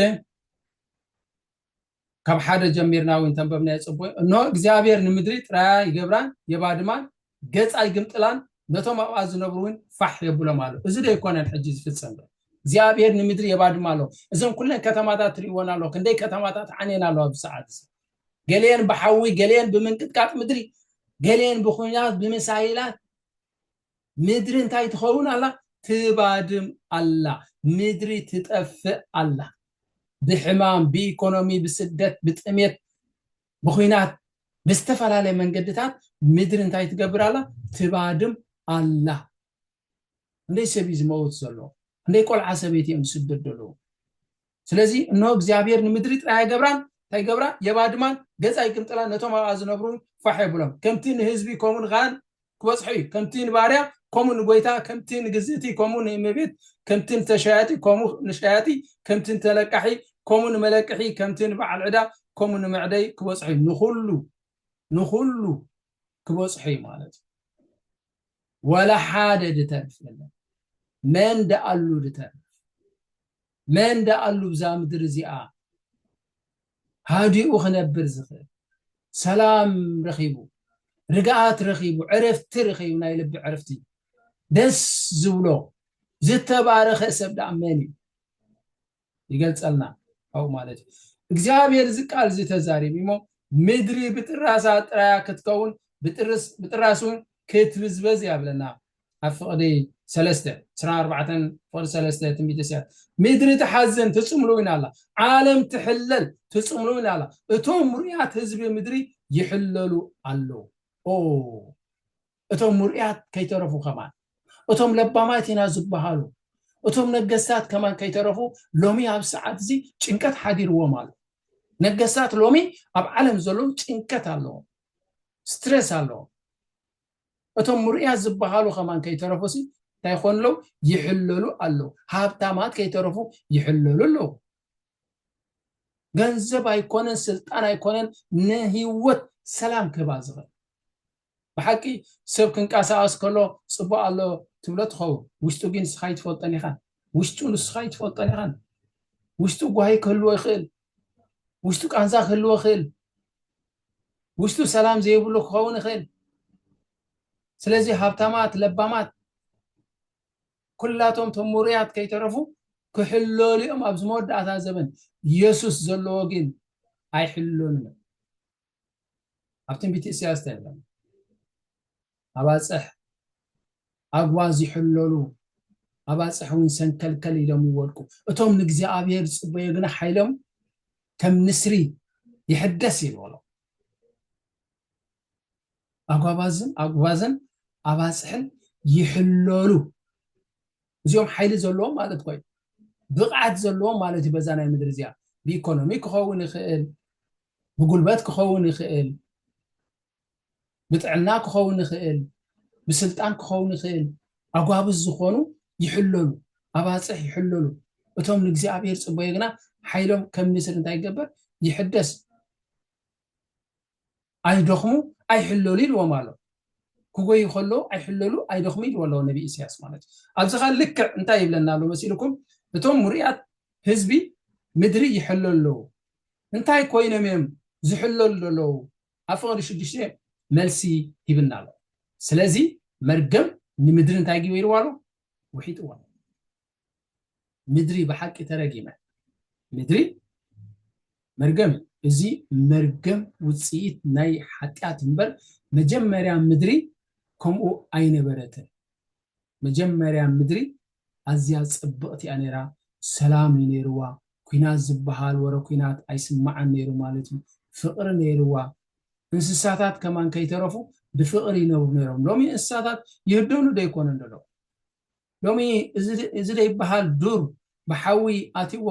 S1: ካብ ሓደ ጀሚርና እውን ተንበብናዮ ጽቡቅ እንሆ እግዚኣብሔር ንምድሪ ጥራያ ይገብራን የባድማን ገጻ ይግምጥላን ነቶም ኣብኣ ዝነብሩ እውን ፋሕ የብሎም ኣሎ እዚ ዶ ይኮነን ሕጂ ዝፍጸም እግዚኣብሔር ንምድሪ የባድማ ኣሎ እዘን ኩለን ከተማታት ትርእይወን ኣሎ ክንደይ ከተማታት ዓንየን ኣለዋ ኣብዚ ሰዓት እዚ ገሊአን ብሓዊ ገሊአን ብምንቅጥቃጥ ምድሪ ገሊአን ብኩናት ብምሳይላት ምድሪ እንታይ ትኸውን ኣላ? ትባድም ኣላ። ምድሪ ትጠፍእ ኣላ። ብሕማም፣ ብኢኮኖሚ፣ ብስደት፣ ብጥሜት፣ ብኹናት፣ ብዝተፈላለየ መንገድታት ምድሪ እንታይ ትገብር ኣላ? ትባድም ኣላ። ክንደይ ሰብ እዩ ዝመውት ዘሎ? ክንደይ ቆልዓ ሰበይቲ እዮም ዝስደዱ ኣለዉ? ስለዚ እንሆ እግዚኣብሄር ንምድሪ ጥራይ ኣይገብራን፣ እንታይ ይገብራ? የባድማን፣ ገጻ ኣይግምጥላን፣ ነቶም ኣብኣ ዝነብሩውን ፋሕ የብሎም። ከምቲ ንህዝቢ ከምኡ ንኻህን ክበጽሖ እዩ፣ ከምቲ ንባርያ ከምኡ ንጐይታ፣ ከምቲ ንግዝእቲ ከምኡ ንእመቤት፣ ከምቲ ንተሻያጢ ከምኡ ንሸያጢ፣ ከምቲ ንተለቃሒ ከምኡ ንመለቅሒ፣ ከምቲ ንበዓል ዕዳ ከምኡ ንመዕደይ ክበጽሖ እዩ። ንዅሉ ንዅሉ ክበጽሖ እዩ ማለት እዩ። ወላ ሓደ ድተርፍ የለን፣ መን ደኣሉ ድተርፍ? መን ደኣ ኣሉ ብዛ ምድሪ እዚኣ ሃዲኡ ክነብር ዝኽእል? ሰላም ረኺቡ፣ ርግኣት ረኺቡ፣ ዕረፍቲ ረኺቡ፣ ናይ ልቢ ዕረፍቲ ደስ ዝብሎ ዝተባረኸ ሰብ ደኣ መን እዩ? ይገልጸልና ካብኡ ማለት እዩ እግዚኣብሔር እዚ ቃል እዚ ተዛሪቡ እሞ ምድሪ ብጥራሳ ጥራያ ክትከውን ብጥራስ እውን ክትብዝበዝ እያ ብለና ኣብ ፍቕዲ ሰለስተ ዕስራን ኣርባዕተን ፍቕዲ ሰለስተ ትንቢተ ኢሳያስ ምድሪ ትሓዝን ትጽምሉ እውን ኣላ ዓለም ትሕለል ትጽምሉ እውን ኣላ እቶም ምርያት ህዝቢ ምድሪ ይሕለሉ ኣለዉ ኦ እቶም ምርያት ከይተረፉ ከማን እቶም ለባማት ኢና ዝበሃሉ እቶም ነገስታት ከማን ከይተረፉ ሎሚ ኣብ ሰዓት እዚ ጭንቀት ሓዲርዎም ኣሎ ነገስታት ሎሚ ኣብ ዓለም ዘለዉ ጭንቀት ኣለዎም ስትረስ ኣለዎም እቶም ምሩያት ዝብሃሉ ከማን ከይተረፉሲ እንታይ ይኾኑ ኣለው ይሕለሉ ኣለው ሃብታማት ከይተረፉ ይሕለሉ ኣለው ገንዘብ ኣይኮነን ስልጣን ኣይኮነን ንህይወት ሰላም ክህባ ዝኽእል ብሓቂ ሰብ ክንቀሳቀስ ከሎ ፅቡቅ ኣሎ ትብሎ ትኸውን ውሽጡ ግን ንስኻ ይትፈልጦን ኢኻን ውሽጡ ንስኻ ይትፈልጦን ኢኻን ውሽጡ ጓሂ ክህልዎ ይኽእል ውሽጡ ቃንዛ ክህልዎ ይኽእል ውሽጡ ሰላም ዘይብሉ ክኸውን ይኽእል። ስለዚ ሃብታማት ለባማት ኩላቶም እቶም ምሩያት ከይተረፉ ክሕለሉ እዮም ኣብዚ መወዳእታ ዘበን። የሱስ ዘለዎ ግን ኣይሕለሉን እዮም። ኣብ ትንቢት ኢሳያስ እንታይ ይብለና? ኣባፅሕ ኣግዋ ዚሕለሉ ኣባፅሕውን ሰንከልከል ኢሎም ይወድቁ፣ እቶም ንእግዚኣብሔር ዝፅበዩ ግና ሓይሎም ከም ንስሪ ይሕደስ እዩ በሎ። ኣጓባዝን ኣጉባዝን ኣባፅሕን ይሕለሉ፣ እዚኦም ሓይሊ ዘለዎም ማለት እኮ እዩ፣ ብቕዓት ዘለዎም ማለት እዩ በዛ ናይ ምድሪ እዚኣ፣ ብኢኮኖሚ ክኸውን ይኽእል፣ ብጉልበት ክኸውን ይኽእል፣ ብጥዕና ክኸውን ይኽእል፣ ብስልጣን ክኸውን ይኽእል፣ ኣጓብዝ ዝኾኑ ይሕለሉ፣ ኣባጽሕ ይሕለሉ፣ እቶም ንእግዚኣብሔር ጽበዩ ግና ሓይሎም ከም ንስር እንታይ ይገበር ይሕደስ፣ ኣይደኽሙ ኣይሕለሉ ኢልዎም ኣሎ። ክጎዩ ከለዉ ኣይሕለሉ ኣይደኽሙ ኢልዎ ኣለዎ ነቢ ኢሳያስ ማለት እዩ። ኣብዚ ኸ ልክዕ እንታይ ይብለና ኣሎ መሲልኩም እቶም ሙሩያት ህዝቢ ምድሪ ይሕለሉ ኣለዉ። እንታይ ኮይኖም እዮም ዝሕለሉ ዘለዉ? ኣብ ፍቅሪ ሽዱሽተ መልሲ ሂብና ኣሎ ስለዚ መርገም ንምድሪ እንታይ ጊበርዋ ኣሎ ውሒጥዋ ምድሪ ብሓቂ ተረጊመ ምድሪ መርገም እዩ እዚ መርገም ውፅኢት ናይ ሓጢኣት እምበር መጀመርያ ምድሪ ከምኡ ኣይነበረትን መጀመርያ ምድሪ ኣዝያ ጽብቅቲ እያ ነይራ ሰላም እዩ ነይርዋ ኩናት ዝብሃል ወረ ኩናት ኣይስማዕን ነይሩ ማለት እዩ ፍቅሪ ነይርዋ እንስሳታት ከማን ከይተረፉ ብፍቅሪ ይነብሩ ነይሮም ሎሚ እንስሳታት ይህደኑ ዶ ኣይኮነን ዘሎ ሎሚ እዚ ዘይብሃል ዱር ብሓዊ ኣትይዎ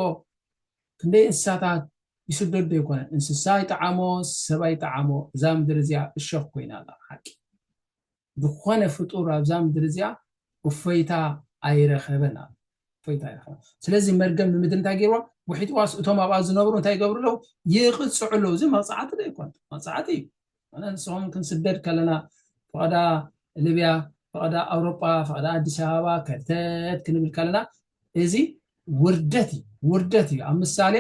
S1: ክንደይ እንስሳታት ይስደዱ ዶ ኣይኮነን እንስሳ ይጥዓሞ ሰብ ኣይጥዓሞ እዛ ምድሪ እዚኣ እሾክ ኮይና ኣላ ሓቂ ዝኾነ ፍጡር ኣብዛ ምድሪ እዚኣ እፎይታ ኣይረኸበን ኣሎ እፎይታ ኣይረኸበን ስለዚ መርገም ንምድሪ እንታይ ገይርዋ ውሒጥዋስ እቶም ኣብኣ ዝነብሩ እንታይ ይገብሩ ኣለዉ ይቕፅዑ ኣለዉ እዚ መቕፃዕቲ ዶ ይኮን መቕፃዕቲ እዩ ኣነ ንስኹም ክንስደድ ከለና ፈቐዳ ልብያ ፈቐዳ ኣውሮጳ ፈቐዳ ኣዲስ ኣበባ ከርተት ክንብል ከለና እዚ ውርደት እዩ ውርደት እዩ ኣብ ምሳሌ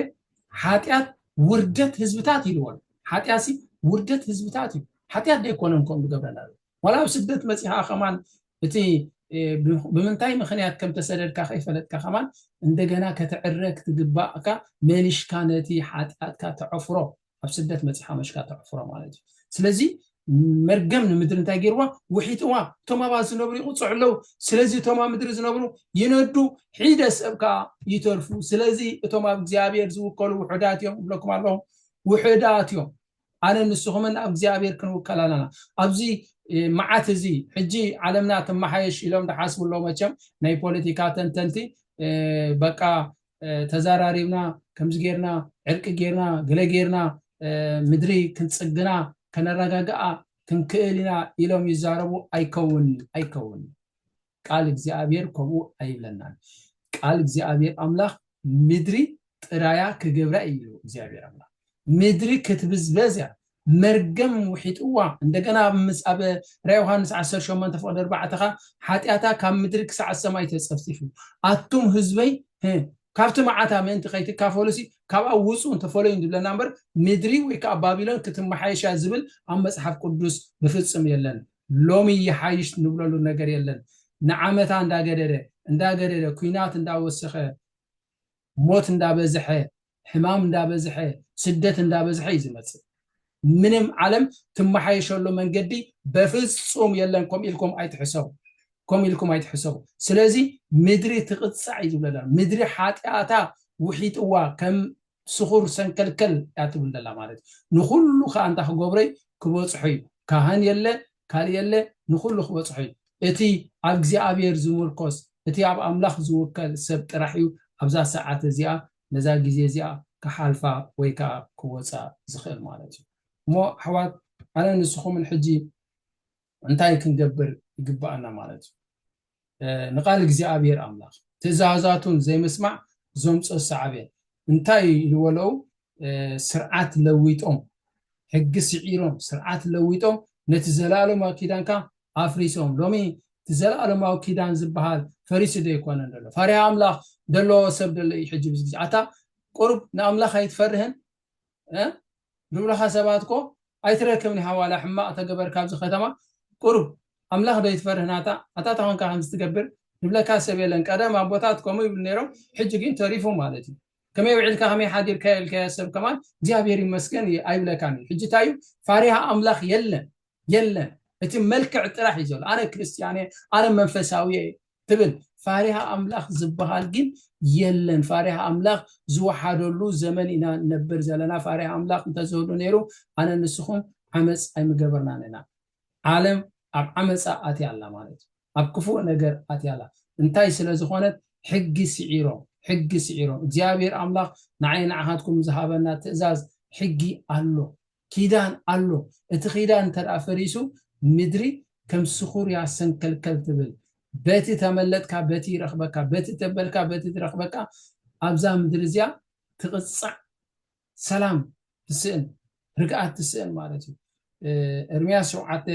S1: ሓጢኣት ውርደት ህዝብታት ኢልዎ ሓጢኣት ሲ ውርደት ህዝብታት እዩ ሓጢኣት ደይኮነን ከምኡ ዝገብረና ዋላ ኣብ ስደት መፂኻ ከማን እቲ ብምንታይ ምክንያት ከም ተሰደድካ ከይፈለጥካ ከማን እንደገና ከተዕረ ክትግባእካ መሊሽካ ነቲ ሓጢኣትካ ተዕፍሮ ኣብ ስደት መጺኻ መሽካ ተዕፍሮ ማለት እዩ ስለዚ መርገም ንምድሪ እንታይ ገይርዋ ውሒጥዋ እቶም ኣብኣ ዝነብሩ ይቁፅዑ ኣለዉ ስለዚ እቶም ኣብ ምድሪ ዝነብሩ ይነዱ ሒደ ሰብ ከዓ ይተርፉ ስለዚ እቶም ኣብ እግዚኣብሔር ዝውከሉ ውሑዳት እዮም እብለኩም ኣለኹ ውሑዳት እዮም ኣነ ንስኹምን ኣብ እግዚኣብሔር ክንውከል ኣለና ኣብዚ መዓት እዚ ሕጂ ዓለምና ትመሓየሽ ኢሎም ዝሓስቡ ኣለዉ መቸም ናይ ፖለቲካ ተንተንቲ በቃ ተዛራሪብና ከምዚ ጌርና ዕርቂ ጌርና ገለ ጌርና ምድሪ ክንጽግና ከነረጋግኣ ክንክእል ኢና ኢሎም ይዛረቡ ኣይከውን ኣይከውን ቃል እግዚኣብሔር ከምኡ ኣይብለናን ቃል እግዚኣብሔር ኣምላኽ ምድሪ ጥራያ ክገብራ እዩ እግዚኣብሔር ኣምላኽ ምድሪ ክትብዝበዝ እያ መርገም ውሒጥዋ እንደገና ምስ ኣብ ራ ዮሃንስ ዓሰርተ ሸሞንተ ፍቅዲ ኣርባዕተ ከኣ ሓጢኣታ ካብ ምድሪ ክሳዕ ሰማይ ተጸፍጺፉ ኣቱም ህዝበይ ህ ካብቲ መዓታ ምእንቲ ከይትካፈሉሲ ካብኣ ውጹን ተፈለዩን ዝብለና እምበር ምድሪ ወይ ከኣ ባቢሎን ክትመሓየሽ እያ ዝብል ኣብ መጽሓፍ ቅዱስ ብፍጽም የለን ሎሚ ይሓይሽ ንብለሉ ነገር የለን ንዓመታ እንዳገደደ እንዳገደደ ኩናት እንዳወሰኸ ሞት እንዳበዝሐ ሕማም እንዳበዝሐ ስደት እንዳበዝሐ እዩ ዝመጽእ ምንም ዓለም ትመሓየሸሉ መንገዲ በፍጹም የለን ከም ኢልኩም ኣይትሕሰቡ ከም ኢልኩም ኣይትሕሰቡ ስለዚ ምድሪ ትቕጻዕ እዩ ዝብለላ ምድሪ ሓጢኣታ ውሒጥዋ ከም ስኹር ሰንከልከል እያ ትብል ዘላ ማለት ንኹሉ ከዓ እንታይ ክገብረይ ክበጽሖ እዩ ካህን የለ ካልእ የለ ንኹሉ ክበጽሖ እዩ እቲ ኣብ እግዚኣብሔር ዝሙርኮስ እቲ ኣብ ኣምላኽ ዝውከል ሰብ ጥራሕ እዩ ኣብዛ ሰዓት እዚኣ ነዛ ግዜ እዚኣ ክሓልፋ ወይ ከኣ ክወጻ ዝኽእል ማለት እዩ እሞ ኣሕዋት ኣነ ንስኹምን ሕጂ እንታይ ክንገብር ይግብኣና ማለት እዩ። ንቃል እግዚኣብሔር ኣምላክ ትእዛዛቱን ዘይምስማዕ ዘምፆ ሳዕቤን እንታይ እዩ ዝበለው ስርዓት ለዊጦም ሕጊ ስዒሮም ስርዓት ለዊጦም ነቲ ዘላለማዊ ኪዳንካ ኣፍሪሶም ሎሚ እቲ ዘላለማዊ ኪዳን ዝበሃል ፈሪሱ ዶ ይኮነን ዘሎ ፈሪሃ ኣምላክ ዘለዎ ሰብ ደሎ እዩ ሕጂ ብዚ ግዜ ኣታ ቁሩብ ንኣምላክ ኣይትፈርህን ዝብሉኻ ሰባት እኮ ኣይትረክብን ኢኻ ዋላ ሕማቕ ተገበርካ ኣብዚ ከተማ ቁሩብ ኣምላኽ ዶ ኣይትፈርህ ናታ ኣታ ተኾንካ ከምዚ ትገብር ዝብለካ ሰብ የለን ቀደም ኣቦታት ከምኡ ይብሉ ነይሮም ሕጂ ግን ተሪፉ ማለት እዩ ከመይ ውዒልካ ከመይ ሓዲርካ ኢልካዮ ሰብ ከማን እግዚኣብሔር ይመስገን ኣይብለካን እዩ ሕጂ እንታይ እዩ ፋሪሃ ኣምላኽ የለን የለን እቲ መልክዕ ጥራሕ እዩ ዘሎ ኣነ ክርስትያን እየ ኣነ መንፈሳዊ እየ ትብል ፋሪሃ ኣምላኽ ዝበሃል ግን የለን ፋሪሃ ኣምላኽ ዝወሓደሉ ዘመን ኢና ንነብር ዘለና ፋሪሃ ኣምላኽ እንተዝህሉ ነይሩ ኣነ ንስኹም ዓመፅ ኣይምገበርናን ኢና ዓለም ኣብ ዓመፃ ኣትያ ኣላ ማለት እዩ ኣብ ክፉእ ነገር ኣትያ ኣላ እንታይ ስለ ዝኾነት ሕጊ ስዒሮም ሕጊ ስዒሮም እግዚኣብሔር ኣምላኽ ንዓይ ንዓኻትኩም ዝሃበና ትእዛዝ ሕጊ ኣሎ ኪዳን ኣሎ እቲ ኪዳን እንተደኣ ፈሪሱ ምድሪ ከም ስኹርያ ሰንከልከል ትብል በቲ ተመለጥካ በቲ ይረኽበካ በቲ ተበልካ በቲ ትረኽበካ ኣብዛ ምድሪ እዚኣ ትቕጻዕ ሰላም ትስእን ርግኣት ትስእን ማለት እዩ እርምያስ ሸውዓተ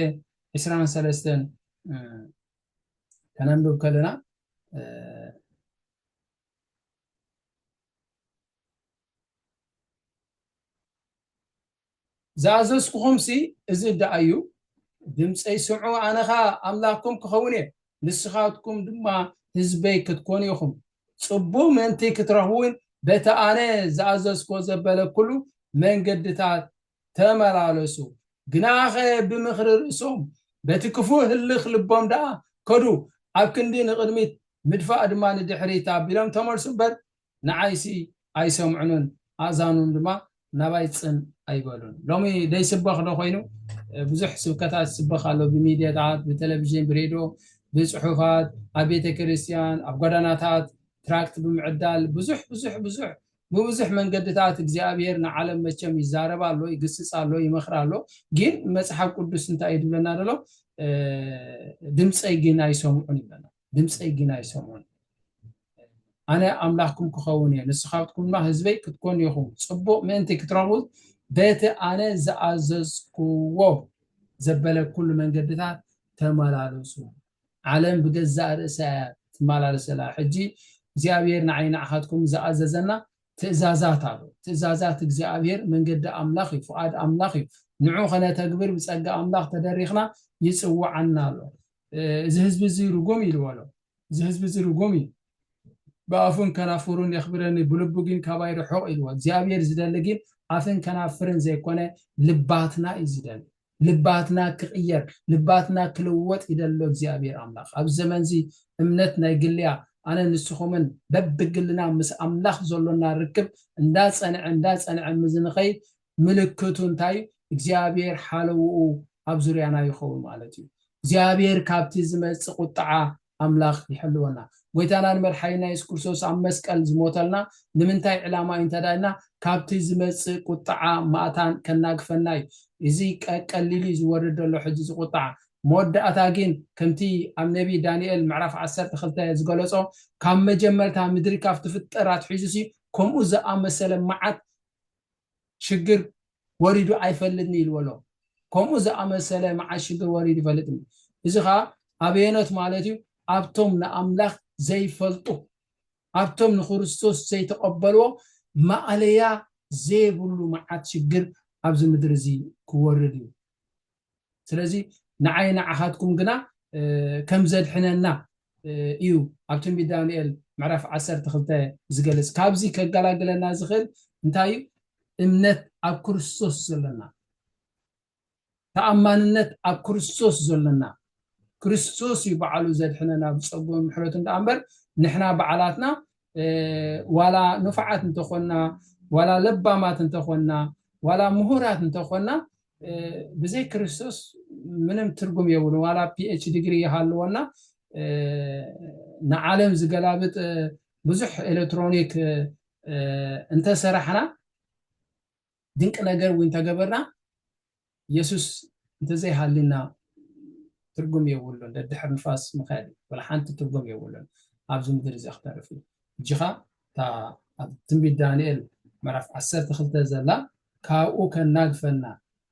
S1: ዕስራን ሰለስተን ከነንብብ ከለና ዝኣዘዝኩኹምሲ እዚ ደኣ እዩ፣ ድምፀይ ስምዑ፣ ኣነ ኸኣ ኣምላኽኩም ክኸውን እየ፣ ንስኻትኩም ድማ ህዝበይ ክትኮኑ ኢኹም። ፅቡቕ ምእንቲ ክትረኽቡውን በቲ ኣነ ዝኣዘዝኩዎ ዘበለ ኵሉ መንገድታት ተመላለሱ። ግናኸ ብምኽሪ ርእሶም፣ በቲ ክፉእ ህልኽ ልቦም ደኣ ከዱ፣ ኣብ ክንዲ ንቕድሚት ምድፋእ ድማ ንድሕሪት ኣቢሎም ተመልሱ እምበር፣ ንዓይሲ ኣይሰምዑንን ኣእዛኖም ድማ ናባይ ጽን ኣይበሉን። ሎሚ ደይስበኽ ዶ ኮይኑ? ብዙሕ ስብከታት ይስበኽ ኣሎ ብሚድያታት፣ ብተለቪዥን፣ ብሬድዮ፣ ብጽሑፋት፣ ኣብ ቤተ ክርስቲያን፣ ኣብ ጓዳናታት፣ ትራክት ብምዕዳል፣ ብዙሕ ብዙሕ ብዙሕ ብብዙሕ መንገድታት እግዚኣብሔር ንዓለም መቸም ይዛረብ ኣሎ፣ ይግስጽ ኣሎ፣ ይመኽር ኣሎ። ግን መጽሓፍ ቅዱስ እንታይ እዩ ዝብለና ዘሎ? ድምጸይ ግን ኣይሰምዑን ይብለና። ድምፀይ ግን ኣይሰምዑን። ኣነ ኣምላኽኩም ክኸውን እየ፣ ንስኻትኩም ድማ ህዝበይ ክትኮኑ ኢኹም። ፅቡቕ ምእንቲ ክትረኽቡ በቲ ኣነ ዝኣዘዝኩዎ ዘበለኩሉ መንገድታት ተመላለሱ። ዓለም ብገዛእ ርእሳ እያ ትመላለስ ዘላ። ሕጂ እግዚኣብሔር ንዓይ ንዓኻትኩም ዝኣዘዘና ትእዛዛት ኣሎ። ትእዛዛት እግዚኣብሔር መንገዲ ኣምላኽ እዩ፣ ፍቓድ ኣምላኽ እዩ። ንዑ ከነተግብር ብፀጋ ኣምላኽ ተደሪኽና ይፅውዓና ኣሎ። እዚ ህዝቢ እዚ ርጉም እዩ ዝበሎ እዚ ህዝቢ እዚ ርጉም እዩ ብኣፉን ከናፍሩን የኽብረኒ ብልቡ ግን ካባይ ርሑቕ ኢልዎ እግዚኣብሔር ዝደሊ ግን ኣፍን ከናፍርን ዘይኮነ ልባትና እዩ ዝደሊ ልባትና ክቕየር ልባትና ክልወጥ ይደሎ እግዚኣብሔር ኣምላኽ ኣብ ዘመን እዚ እምነት ናይ ግልያ ኣነ ንስኹምን በብግልና ምስ ኣምላኽ ዘሎና ርክብ እንዳፀንዐ እንዳፀንዐ ምዝንኸይድ ምልክቱ እንታይ እዩ? እግዚኣብሄር ሓለውኡ ኣብ ዙርያና ይኸውን ማለት እዩ። እግዚኣብሄር ካብቲ ዝመጽእ ቁጥዓ ኣምላኽ ይሕልወና። ጎይታናን መድሓኒና የሱስ ክርስቶስ ኣብ መስቀል ዝሞተልና ንምንታይ ዕላማ እዩ እንተድኣ ኢልና ካብቲ ዝመጽእ ቁጥዓ ማእታን ከናግፈና እዩ። እዚ ቀቀሊሉ እዩ ዝወርድ ዘሎ ሕጂ እዚ ቁጥዓ። መወዳእታ ግን ከምቲ ኣብ ነቢ ዳንኤል ምዕራፍ ዓሰርተ ክልተ ዝገለጾ ካብ መጀመርታ ምድሪ ካብ ትፍጠር ኣትሒዙሲ ከምኡ ዝኣመሰለ መዓት ሽግር ወሪዱ ኣይፈልጥን ኢሉ በሎ። ከምኡ ዝኣመሰለ መዓስ ሽግር ወሪዱ ይፈልጥን? እዚ ኸኣ ኣበየኖት ማለት እዩ? ኣብቶም ንኣምላኽ ዘይፈልጡ፣ ኣብቶም ንክርስቶስ ዘይተቐበልዎ ማእለያ ዘይብሉ መዓት ሽግር ኣብዚ ምድሪ እዚ ክወርድ እዩ። ስለዚ ንዓይ ንዓኻትኩም ግና ከም ዘድሕነና እዩ ኣብ ትንቢት ዳንኤል ምዕራፍ ዓሰርተ ክልተ ዝገልጽ። ካብዚ ከገላግለና ዝኽእል እንታይ እዩ? እምነት ኣብ ክርስቶስ ዘለና፣ ተኣማንነት ኣብ ክርስቶስ ዘለና። ክርስቶስ እዩ በዓሉ ዘድሕነና ብጸግኡን ምሕረቱን ደኣ እምበር ንሕና በዓላትና ዋላ ንፉዓት እንተኾንና ዋላ ለባማት እንተኾንና ዋላ ምሁራት እንተኾንና ብዘይ ክርስቶስ ምንም ትርጉም የብሉን ዋላ ፒኤች ዲግሪ ይሃልወና ንዓለም ዝገላብጥ ብዙሕ ኤሌክትሮኒክ እንተሰራሕና ድንቂ ነገር እውን እንተገበርና የሱስ እንተዘይሃልዩና ትርጉም የብሉን ደድሕር ንፋስ ምኽያድ እዩ ወላ ሓንቲ ትርጉም የብሉን ኣብዚ ምድሪ እዚ ክተርፍ እዩ እጅኻ እታ ኣብ ትንቢት ዳንኤል ምዕራፍ 12 ዘላ ካብኡ ከናግፈና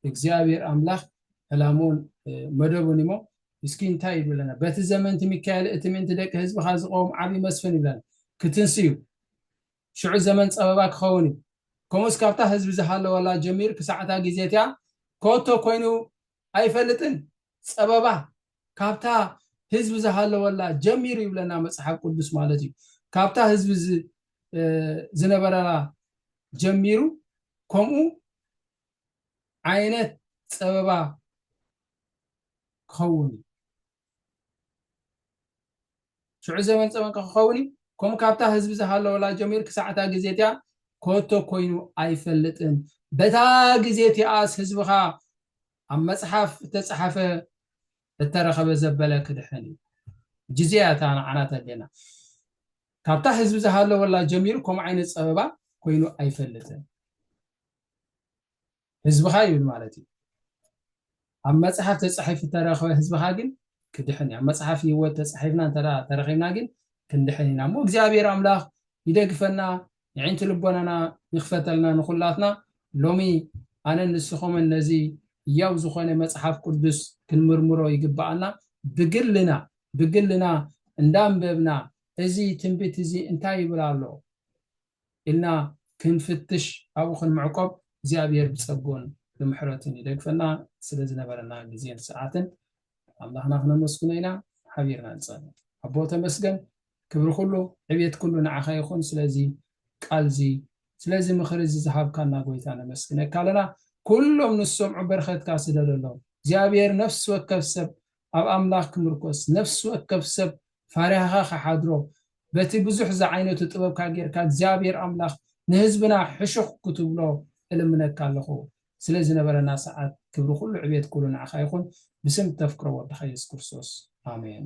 S1: እግዚኣብሔር ኣምላኽ ዕላሙን መደቡን እሞ እስኪ እንታይ ይብለና በቲ ዘመንቲ ሚካኤል እቲ ምእንቲ ደቂ ህዝብካ ዝቀውም ዓብዪ መስፍን ይብለና ክትንስዩ ሽዑ ዘመን ጸበባ ኪኸውን እዩ። ከምኡስ ካብታ ህዝቢ ዝሃለወላ ጀሚሩ ክሳዕ እታ ግዜ እቲኣ ከቶ ኮይኑ ኣይፈልጥን። ጸበባ ካብታ ህዝቢ ዝሃለወላ ጀሚሩ ይብለና መጽሓፍ ቅዱስ ማለት እዩ። ካብታ ህዝቢ ዝነበረላ ጀሚሩ ከምኡ ዓይነት ጸበባ ክኸውን እዩ። ሽዑ ዘበን ጸመንቀ ክኸውን እዩ። ከምኡ ካብታ ህዝቢ ዝሃለወላ ጀሚሩ ክሳዕ እታ ግዜ እቲኣ ኮቶ ኮይኑ ኣይፈልጥን። በታ ግዜ እቲኣስ ህዝብኻ ኣብ መጽሓፍ እተጸሓፈ እተረኸበ ዘበለ ክድሕን እዩ። ጅዝያ እታ ንዓና ተድልየና። ካብታ ህዝቢ ዝሃለወላ ጀሚሩ ከምኡ ዓይነት ጸበባ ኮይኑ ኣይፈልጥን። ህዝብኻ ይብል ማለት እዩ ኣብ መጽሓፍ ተጻሒፉ እተረኽበ ህዝብኻ ግን ክድሕን እዩ ኣብ መጽሓፍ ህይወት ተጻሒፍና እንተ ተረኺብና ግን ክንድሕን ኢና እሞ እግዚኣብሔር ኣምላኽ ይደግፈና የዒንቲ ልቦናና ይኽፈተልና ንኹላትና ሎሚ ኣነን ንስኹምን ነዚ እያው ዝኾነ መጽሓፍ ቅዱስ ክንምርምሮ ይግባኣና ብግልና ብግልና እንዳንበብና እዚ ትንቢት እዚ እንታይ ይብል ኣሎ ኢልና ክንፍትሽ ኣብኡ ክንምዕቆብ እግዚኣብሔር ብጸግኡን ብምሕረቱን ይደግፈና። ስለ ዝነበረና ግዜን ሰዓትን ኣምላኽና ክነመስግኖ ኢና። ሓቢርና ንጸሊ። ኣቦ ተመስገን ክብሪ ኩሉ ዕቤት ኩሉ ንዓኻ ይኹን ስለዚ ቃልዚ ስለዚ ምኽሪ እዚ ዝሃብካና ጎይታ ነመስግነካ ኣለና። ኩሎም ንዝሰምዑ በርኸትካ ስደደሎም እግዚኣብሔር ነፍሲ ወከፍ ሰብ ኣብ ኣምላኽ ክምርኮስ፣ ነፍሲ ወከፍ ሰብ ፋሪሃኻ ክሓድሮ፣ በቲ ብዙሕ ዝዓይነቱ ጥበብካ ጌርካ እግዚኣብሄር ኣምላኽ ንህዝብና ሕሹኽ ክትብሎ እልምነካ ኣለኹ። ስለ ዝነበረና ሰዓት ክብሪ ኩሉ ዕቤት ኩሉ ንዓኻ ይኹን ብስም እተፍቅሮ ወድኻ የሱስ ክርስቶስ ኣሜን።